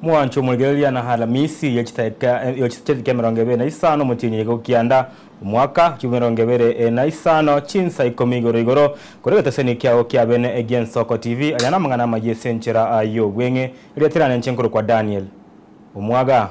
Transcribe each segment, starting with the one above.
Mwancho omoregereria na Alamisi ya chitaka- eh, ya chitaka emerongo ebere na isano omotienyi oye gokianda, omwaka chio emerongo ebere eh, na isano chinsa ikomi igoro igoro, kore egeteseni kiao kia bene egie Nsoko TV, aya namang'ana amayia ase enchera ah, y'obweng'e, eria tirane inche nkorokwa Daniel. Omwaga.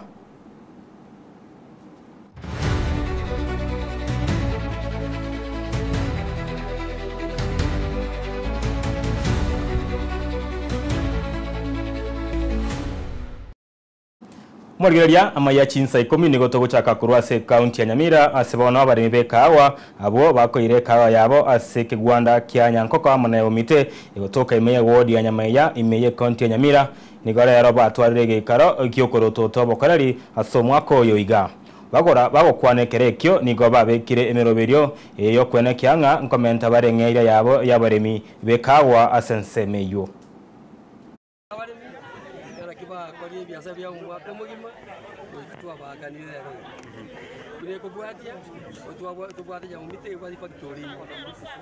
Omorigereria, Amaiyo a chinsa ikomi nigo togochaka korwa ase ekaunti ya Nyamira ase bono abaremi b'ekaawa abwo bakoeire ekaawa yabo ase ekegwanda kia Nyankoko amo na Eomite, igo tokaimeiya ewodi ya Nyamaiya, ime y'ekaunti ya Nyamira, Nigo rero batwarire egeikaro gi'okorotota obokoreri ase omwaka oyo iga. Bagora bagokwana ekero ekio nigo babekire emeroberio eye y'okwenekea ng'a nkomenta bare ng'eria yabo y'abaremi b'ekaagwa ase ensemo eyio.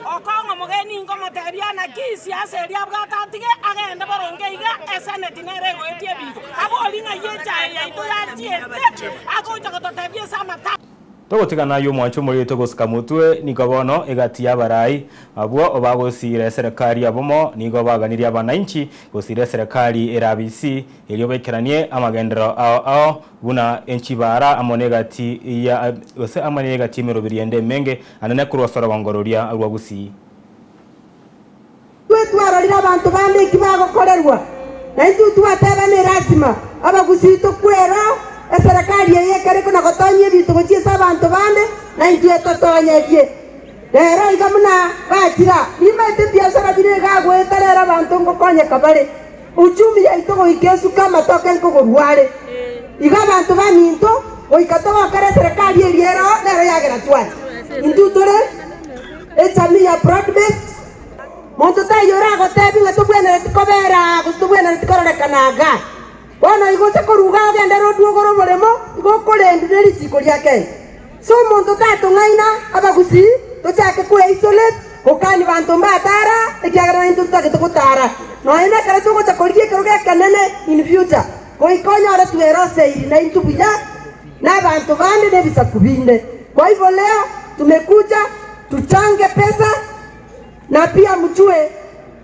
Okong'a omogeni inkomotebia ana kisi ase eria abwate atige agende boronge iga, eseneti nere egoetie ebigo. Abori ng'a ye echaye yaito yachiete agocha gototebia ase amatama. Togotigana ayio mwanche omorito gosika motwe, nigo bono egati y'abarai abwo obagosiira eserekari yabomo nigo baganirie abanainchi gosiira eserekari ere abisi, erio baikeranie amagenderero ao ao buna enchibaara amo negati ya gose amo n'egati y'emerobiri ende emenge, Anene korwa ase orogongo roria rwa gusii. Intwe twarorire abanto bande eki bagokorerwa, na intwe twateba ne lasima Abagusii tokwera eserekari eye ekere na gotonyia ebinto gochia ase abanto bande, na intwe totonyetie. Rero iga buna gachira, nimaete ebiasara bire iga agoeta rero abanto ngokonyeka bare. Uchumi yaito goika esuka amatoke nkogorua are. Igo abanto baminto goika togokora eserekari eria ero nero yagera twacha. Intwe tore ejamii ya broad based. Monto taiyo oragotebi ng'a tobwenereti kobera aa gose tobwenereti kororekana iga. Bono igo oche koruga ogende rodwogore oboremo igo okorendwe ne risiiko ria Kenya. Inse omonto tatong'aina abagusii, tochake koea isolate gokania banto mbatara ekiagera naintwe totagete gotara. Nonya nekero togocha korigia ekerogo ekenene in future, goika onyore tweroseiri naintwe buya nabanto bande nebisaku binde. Kwa hivyo leo tumekuja tuchange pesa na pia mjue.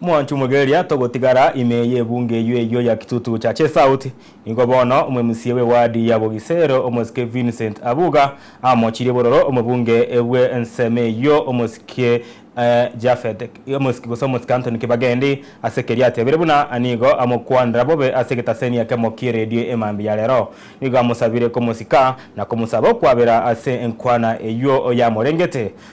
Mwancho Mugeria, togotigara ime y'ebunge eyio eyio ya Kitutu Chache South, nigo bono omwemusie bw'ewadi ya Bogisero, omosike Vincent Abuga, amochirie bororo omobunge bwe ensemo eyio omosike Japhet omosike gose omosike Anthony Kibagendi ase keria atebire buna nigo amokwanera bobe ase egetaseni ekemo ki'eredio emambia ya rero. Nigo amosabire komosika na komosaba okwabera ase enkwana eyio yamorengete.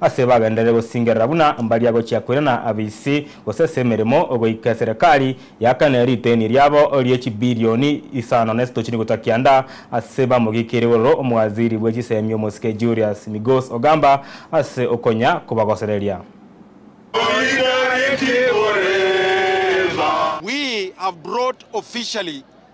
Ase bagenderere gosingerera buna mbaria gochia koirana abaisi, gose ase emeremo, goika eserekari yaakane riteenie riabo rie chibirioni isano na esetochini gotwa kianda ase bamogikire igoro omowaziri bwe chisemi omosike Julius Migos Ogamba ase okonya kobagosereria. We have brought officially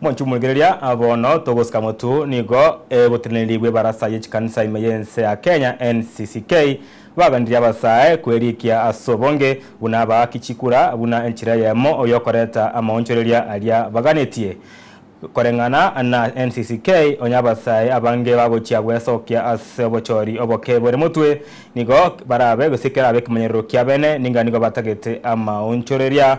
Monchumuregereria, bono togosika motu nigo egotenenirigwe ebarasa ye chikanisa ime y'ense ya Kenya, NCCK, baganirie abasae kwerikia ase obonge buna abaaki chikura buna enchera eyemo y'okoreta amaonchoreria aria baganetie. Koreng'ana na NCCK, onye abasae abange bagochia gwesokia ase obochori oboke bore motwe, nigo barabe gose kerabe ekemanyererio kiabene ninga nigo batagete amaonchoreria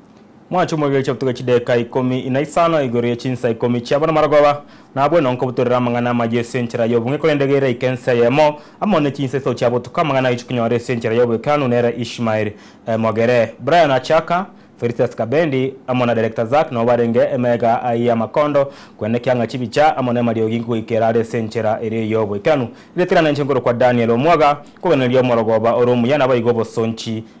Mwachia omobio chiabutuke chidaeka ikomi na isano igoro ye chinsa ikomi chiabo namarogoba, nabwo nonko butorera amang'ana amayio ase enchera y'obong'e korende gere aike ensa eyemo amo ne chinsa iso chiabotuka amang'ana ayiche konyora ase enchera y'oboikeranu nere Ishmael emogere. Brian Achaka, Felicitas Kabendi, amo na Director Zack nabo barenge emega aa y'amakondo kwenda ekianga chibicha amo nemariogi nkogoika erare ase enchera eria y'oboikeranu. Ritina nenche nkorokwa Daniel Omwaga, nkoganereria omorogoba ore omuya nabaigwe obosonchi